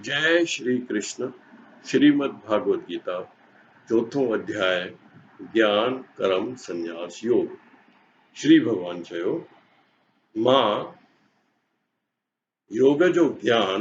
جئه شري ڪرشن شريمد ڀاڳوت گيتا چوٿون اڌياء گيان ڪرم سنياس يوگ شري ڀڳوان چيو مان يوگ جو گيان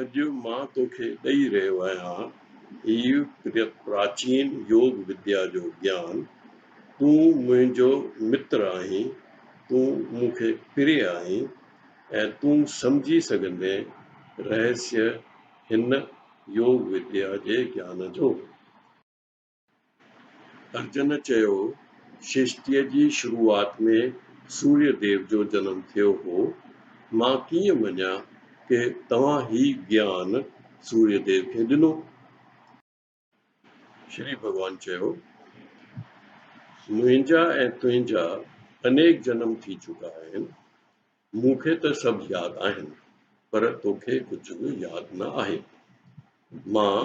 اڄ مان توکي ڏئي رهيو آهيان هي پراچين يوگ وديا جو گيان. تون منهنجو متر آهين، تون مون کي پري آهين ۽ تون سمجهي سگهندين رهسيه هن يوگ وديا جي گيان جو. ارجن چيو، سرشتيء جي شروعات ۾ سوريه ديو جو جنم ٿيو هو، مان ڪيئن مڃان ته توهان هي گيان سوريه ديو کي ڏنو؟ شري ڀڳوان چيو، منهنجا ۽ تنهنجا انيڪ جنم ٿي چڪا آهن، مون کي ته سڀ ياد آهن پر توکي ڪجهه به ياد نه آهي. مان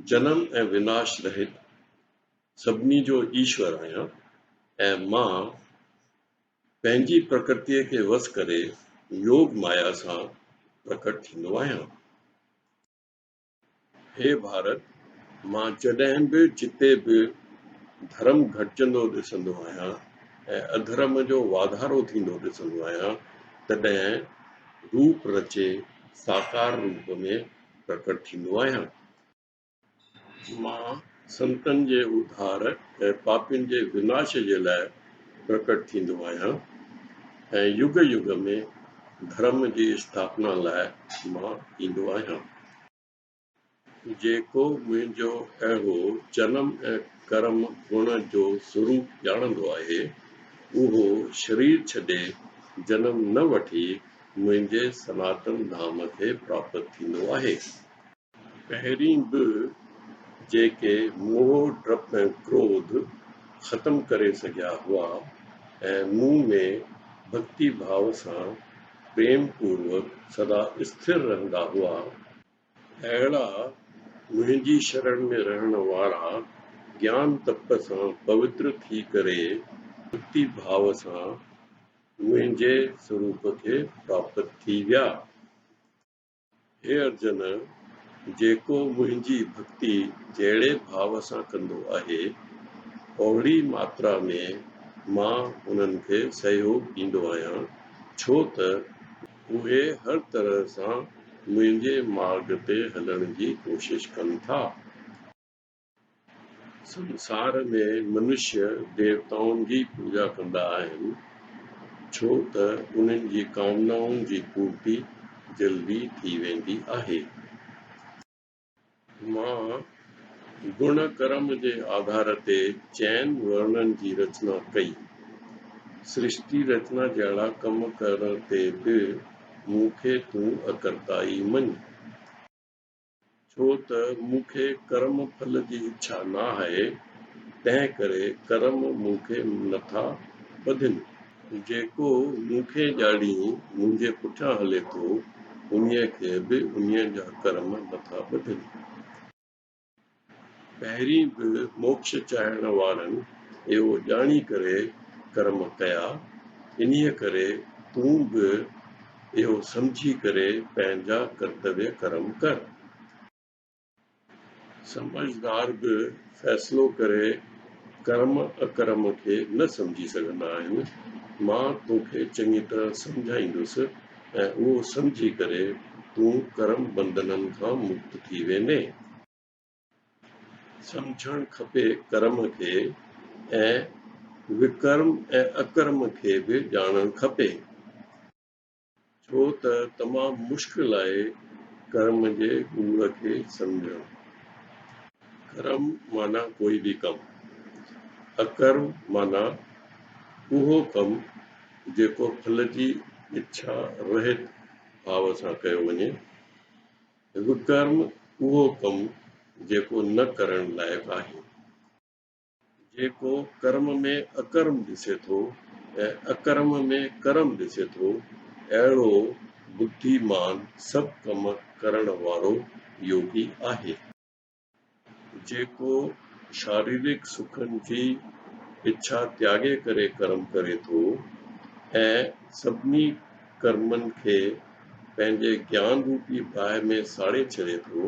جنم ۽ وناش رهت سڀني جو ايشور آهيان ۽ مان پنهنجي پرڪرتيء کي وس ڪري يوگ مايا سان پرڪٽ ٿيندو آهيان. هي ڀارت! مان جڏهن به جتي به ڌرم گهٽجندو ڏسندو آهيان ۽ اڌرم جو واڌارو ٿيندو ڏسندو آهيان تڏهن روپ رچي ساڪار روپ ۾ پرڪٽ ٿيندو آهيان. مان سنتن جي اڌار ۽ پاپين جي وناش جي لاء پرڪٽ ٿيندو آهيان ۽ يگ يگ ۾ ڌرم جي اسٿاپنا لاء مان ايندو آهيان. جيڪو منهنجو اهو جنم ۽ ڪرم هئڻ جو سوروپ ڄاڻندو آهي، اهو شرير ڇڏي جنم نه وٺي منهنجي سناتن ڌام کي پراپت ٿيندو آهي. پهرين به جيڪي موهه، ڊپ ۽ ڪروڌ ختم ڪري سگهيا هئا ۽ مون ۾ ڀڳتي ڀاء سان پريم پوروڪ سدا اسٿر رهندا هئا، اهڙا منهنجي شرڻ ۾ رهڻ وارا گيان تپ سان پوتر ٿي ڪري ڀڳتي ڀاء سان منهنجي سروپ کي پراپت ٿي ويا. هي ارجن! جيڪو منهنجي ڀڳتي جهڙي ڀاء سان ڪندو آهي، اوهڙي ماترا ۾ مان انهن کي سهيوڳ ڏيندو آهيان، ڇو ته اهي هر طرح سان منهنجي مارڳ تي هلڻ جي ڪوشش ڪن ٿا. سنسار ۾ منشي ديوتائن جي پوڄا ڪندا آهن، ڇو ته انهن جي ڪامنائن جي پورتي جلدي ٿي ويندي آهي. مان گڻ ڪرم جي آڌار تي چئن ورنن جي رچنا ڪئي. سرشتي رچنا جهڙا ڪم ڪرڻ تي به مون کي تون اڪرتائي مڃ. ڇو ته مون کي ڪرم ڦل جي اڇا ناهي، تنهن ڪري ڪرم مون کي نٿا ٻڌين. جيڪو مون کي ڄاڙيون منهنجي پٺيان هلي ٿو، انهيء کي به انهيء جا ڪرم نٿا ٻڌين. پهرين به موڪش چاهڻ وارن اهو ڄاڻي ڪري ڪرم ڪيا، انهيء ڪري تون به اهو سمجهي ڪري پنهنجا ڪرتويه ڪرم ڪر. سمجهدار به فيصلو ڪري ڪرم اڪرم کي نه سمجهي سگهندا آهن. مان توکي چڱي طرح سمجهائيندس ۽ اهو سمجهي ڪري تون ڪرم بنڌنن کان مڪت ٿي ويندين. سمجهڻ کپي ڪرم کي ۽ وڪرم ۽ اڪرم کي به ڄاڻڻ کپي ڇو ته تمام مشڪل آهي ڪرم جي ڳوڙ کي سمجهڻ ڪرم معنيٰ ڪوئي به ڪم اڪرم معنيٰ اهو ڪم جيڪو ڦل جي اڇا رهت ڀاو سان ڪيو وڃي وڪرم اهو ڪم جيڪو نه ڪرڻ لائق آهي. جيڪو ڪرم ۾ اڪرم ڏسي ٿو ۽ اڪرم ۾ ڪرم ڏسي ٿو، اهڙو بدي مان سڀ ڪم ڪرڻ وارو يوگي آهي. جيڪو شاريرڪ سکن جي اڇا تياڳي ڪري ڪرم ڪري ٿو ۽ سڀني ڪرمن کي پنهنجي گيان روپي باهه ۾ ساڙي ڇڏي ٿو،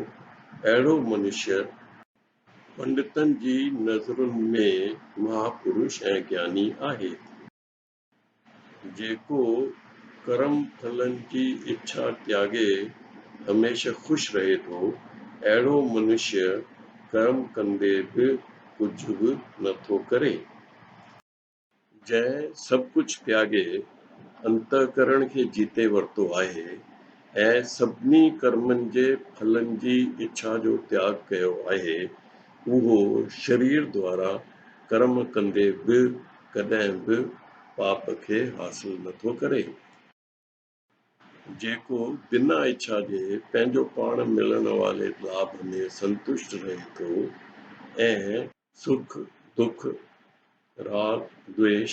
اهڙو منشيه، پنڊتن جي نظرن ۾ مهاپرش ۽ گياني آهي. جيڪو ڪرم ڦلن جي اڇا تياڳي هميشه خوش رهي ٿو، اهڙو منشيه ڪرم ڪندي به ڪجهه به نه ٿو ڪري. جنهن سڀ ڪجهه تياڳي انتهڪرڻ کي جيتي ورتو آهي ۽ سڀني ڪرمن جي ڦلن جي اڇا جو تياڳ ڪيو آهي، اهو شرير دوارا ڪرم ڪندي به ڪڏهن به پاپ کي حاصل نه ٿو ڪري. جيڪو بنا اڇا جي پنهنجو پاڻ ملڻ واري لاڀ ۾ سنتشٽ رهي ٿو ۽ سک، دک، راڳ، دويش،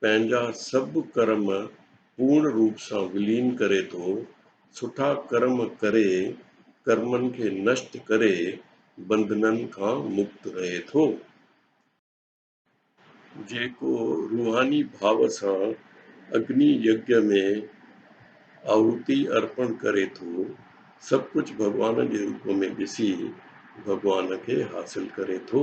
پنهنجا سڀ ڪرم پورڻ روپ سان ولين ڪري ٿو، سٺا ڪرم ڪري ڪرمن کي نشٽ ڪري بنڌنن کان مڪت رهي ٿو. جيڪو روحاني ڀاء سان اگني يگيا ۾ آهوتي ارپڻ ڪري ٿو، سڀ ڪجهه ڀڳوان جي روپ ۾ ڏسي ڀڳوان کي حاصل ڪري ٿو.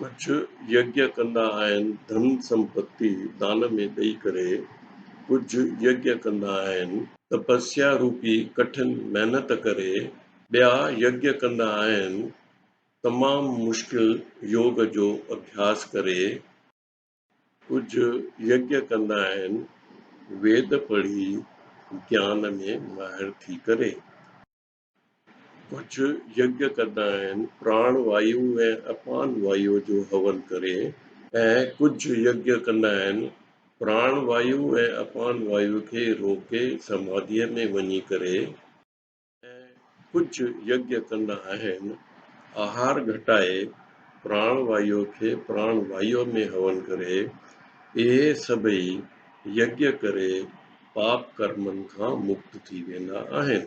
ڪجهه يجّ ڪندا آهن ڌن سمپتي دان ۾ ڏئي ڪري، ڪجهه يجّ ڪندا آهن. تپسيا روپي ڪٺن محنت ڪري، ٻيا يجّ ڪندا آهن تمام مشڪل يوگ جو اڀياس ڪري، ڪجهه يجّ ڪندا آهن ويد پڙهي گيان ۾ ماهر ٿي ڪري. ڪجهه يگيا ڪندا آهن پراڻ وايو ۽ اپان وايو جو هون ڪري ۽ ڪجهه يگيا ڪندا آهن پراڻ وايو ۽ اپان وايو کي روڪي سماڌيء ۾ وڃي ڪري ۽ ڪجهه يگيا ڪندا آهن آهار گهٽائي پراڻ وايو کي پراڻ وايو ۾ هون ڪري. اهي سڀئي يگيا ڪري پاپ ڪرمن کان مڪت ٿي ويندا آهن.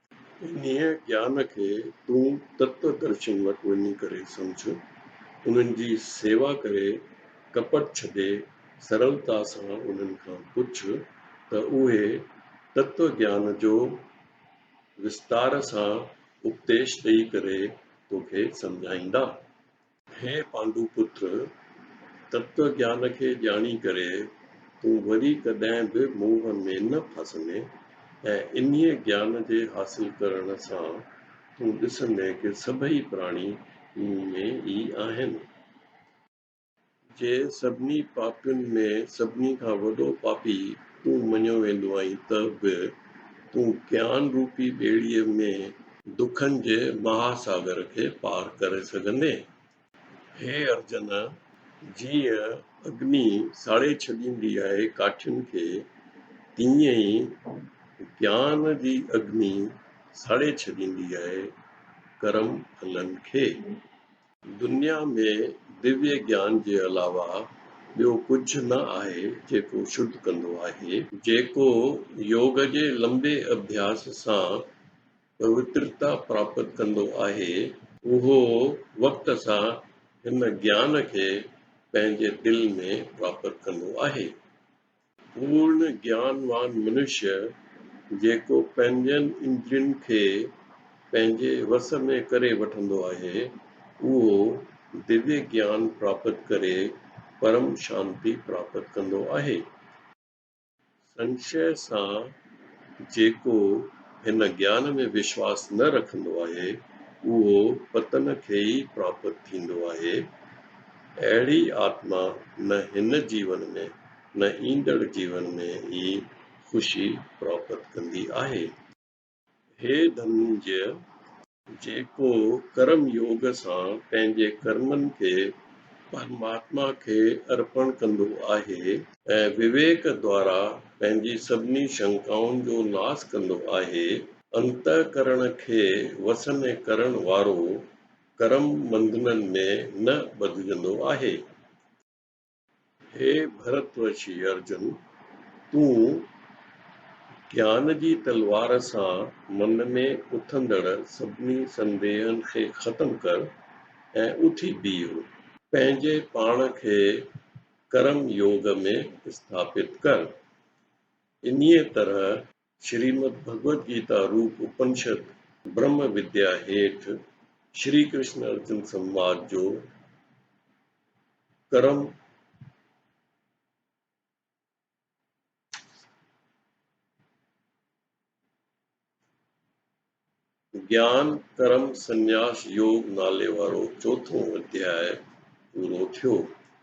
انهيء گيان کي تون تتوادرشين وٽ وڃي ڪري سمجهه، انهن جي سيوا ڪري، ڪپٽ ڇڏي، سرلتا سان انهن کان پڇ ته اهي تتو گيان جو وستار سان اپديش ڏئي ڪري توکي سمجهائيندا. هي پانڊو پٽ! تتو گيان کي ڄاڻي ڪري تون وري ڪڏهن به موهه ۾ نه ڦاسندين ۽ انهيء گيان جي حاصل ڪرڻ سان تون ڏسندين ڪه سڀئي پراڻي مون ۾ ئي آهن. جي سڀني پاپين ۾ سڀني کان وڏو پاپي تون مڃيو ويندو آهين ته به تون گيان روپي ٻيڙيء ۾. دکن جي مها ساگر کي پار ڪري سگهندين. هي ارجن! جيئن اگني ساڙي ڇڏيندي آهي ڪاٺين کي، تيئن ئي گيان جي اگني ساڙي ڇڏيندي آهي ڪرم ڦلن کي. دنيا ۾ ديوي گيان جي علاوه ٻيو ڪجهه نه آهي جيڪو شڌ ڪندو آهي. جيڪو يوگ جي لنبي اڀياس سان پوترتا پراپت ڪندو آهي، اهو وقت سان هن گيان کي پنهنجي دل ۾ پراپت ڪندو آهي. پورڻ گيانوان منشيء جيڪو پنهنجن اندرين کي پنهنجي وس ۾ ڪري وٺندو آهي، اهو ديوي گيان پراپت ڪري پرم شانتي پراپت ڪندو آهي. سنشيه سان جيڪو هن گيان ۾ وشواس نه رکندو آهي، اهو پتن کي ئي پراپت ٿيندو آهي. اهڙي آتما نه هن جيون ۾، نه ايندڙ جيون ۾ ئي خوشي پراپت ڪندي آهي. هي ڌننجيه! جيڪو ڪرم يوگ سان پنهنجي ڪرمن کي پرماتما کي ارپڻ ڪندو آهي. ۽ وويڪ دوارا پنهنجي سڀني شنڪائن جو ناس ڪندو آهي. انتهڪرڻ کي وس ۾ ڪرڻ وارو ڪرم ٻنڌنن ۾ نه ٻڌجندو آهي. هي ڀرت وشي ارجن! تون گيان جي تلوار سان من ۾ اٿندڙ سڀني سنديهن کي ختم ڪر ۽ اٿي بيهه. پنهنجي پاڻ کي ڪرم يوگ ۾ اسٿاپت ڪر. انهيء طرح. شريمد ڀڳوت گيتا روپ اپنشد برهم وديا هيٺ شري ڪرشن ارجن سنواد جو ڪرم گيان ڪرم سنياس يوگ نالي وارو چوٿون اڌياء پورو ٿيو.